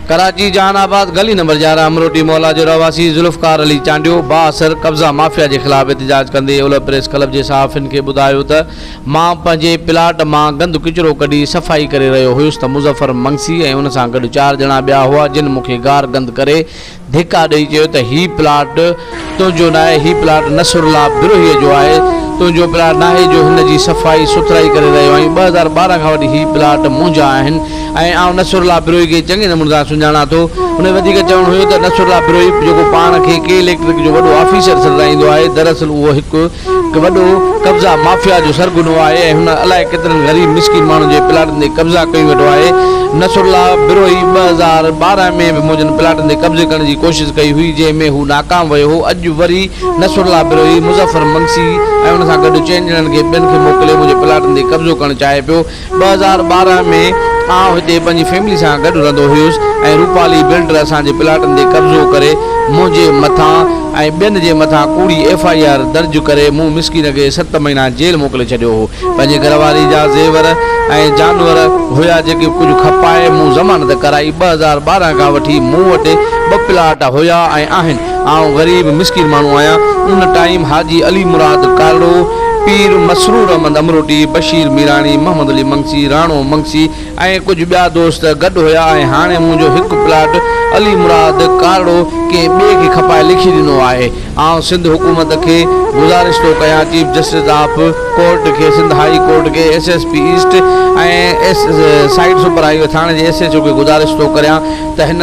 Karachi Jahanabad گلي نمبر يارهن امروٽي محلا جو رهواسي ذوالفقار علي چانڊيو بااثر قبضا مافيا جي خلاف احتجاج ڪندي اولهه پريس ڪلب جي صحافين کي ٻڌايو ته مان پنهنجي پلاٽ مان گند ڪچرو ڪڍي صفائي ڪري رهيو هيس ته مظفر منگسي ۽ ان سان گڏ چار ڄڻا ٻيا هئا جن مون کي گار گند ڪري ڌڪا ڏئي چيو ته هي پلاٽ تنهنجو ناهي، هي پلاٽ نصرالله بروهيء جو آهي، تنهنجو پلاٽ ناهي جو هن جي صفائي سٿرائي ڪري رهيو آهين، ٻه هزار ٻارهن کان وٺي هي پلاٽ منهنجا آهن ۽ آئون نصرالله بروهي کي چڱي نموني سان سڃاڻان ٿو. هن جو وڌيڪ چوڻ هيو ته نصرالله بروهي جيڪو پاڻ کي ڪي اليڪٽرڪ جو وڏو آفيسر سڏرائيندو آهي، دراصل اهو هڪ هڪ وڏو قبضا مافيا جو سرغنو آهي ۽ هن الائي ڪيترن غريب مسڪين ماڻهن جي پلاٽن تي قبضا ڪيون ويٺو آهي، نصرالله بروهي ٻه هزار ٻارهن ۾ به منهنجن پلاٽن تي قبضي ڪرڻ جي ڪوشش ڪئي هئي جنهن ۾ هو ناڪام ويو هو، اڄ وري نصرالله بروهي مظفر منگسي ۽ ان سان گڏ چئن ڄڻن کي ٻين کي موڪلي منهنجي پلاٽن تي قبضو ڪرڻ چاهي پيو، ٻه هزار ٻارهن ۾ آئون هتي پنهنجي فيملي سان گڏ رهندو هيس ۽ روپالي بلڊر اسان جي پلاٽن تي قبضو ڪري منهنجي مٿان ۽ ٻين جي مٿان ڪوڙي ايف آء آر درج ڪري مون مسڪين کي ست مهينا جيل موڪلي ڇڏيو هو پنهنجي گهر واري جا زيور ۽ جانور هيا جيڪي ڪجهه کپائي مون ضمانت ڪرائي ٻه هزار ٻارهن کان وٺي مون وٽ ٻه پلاٽ هيا ۽ آهن. آئون غريب مسڪين ماڻهو آهيان. ان ٽائيم حاجي علي مراد ڪارڙو، پير مسرور احمد امروٽي، بشير ميراڻي، محمد علي منگسي، راڻو منگسي ۽ ڪجهه ٻيا دوست گڏ هيا ۽ هاڻي منهنجو هڪ پلاٽ علي مراد ڪارڙو ڪنهن ٻئي کي کپائي لکي ڏنو آهي. آئون سنڌ حڪومت کي گذارش ٿو ڪيان چيف جسٽس آف ڪورٽ کي، سنڌ هائي ڪورٽ کي، S S P east ۽ site super highway ٿاڻي جي ايس ايڇ او کي گذارش ٿو ڪريان ته هن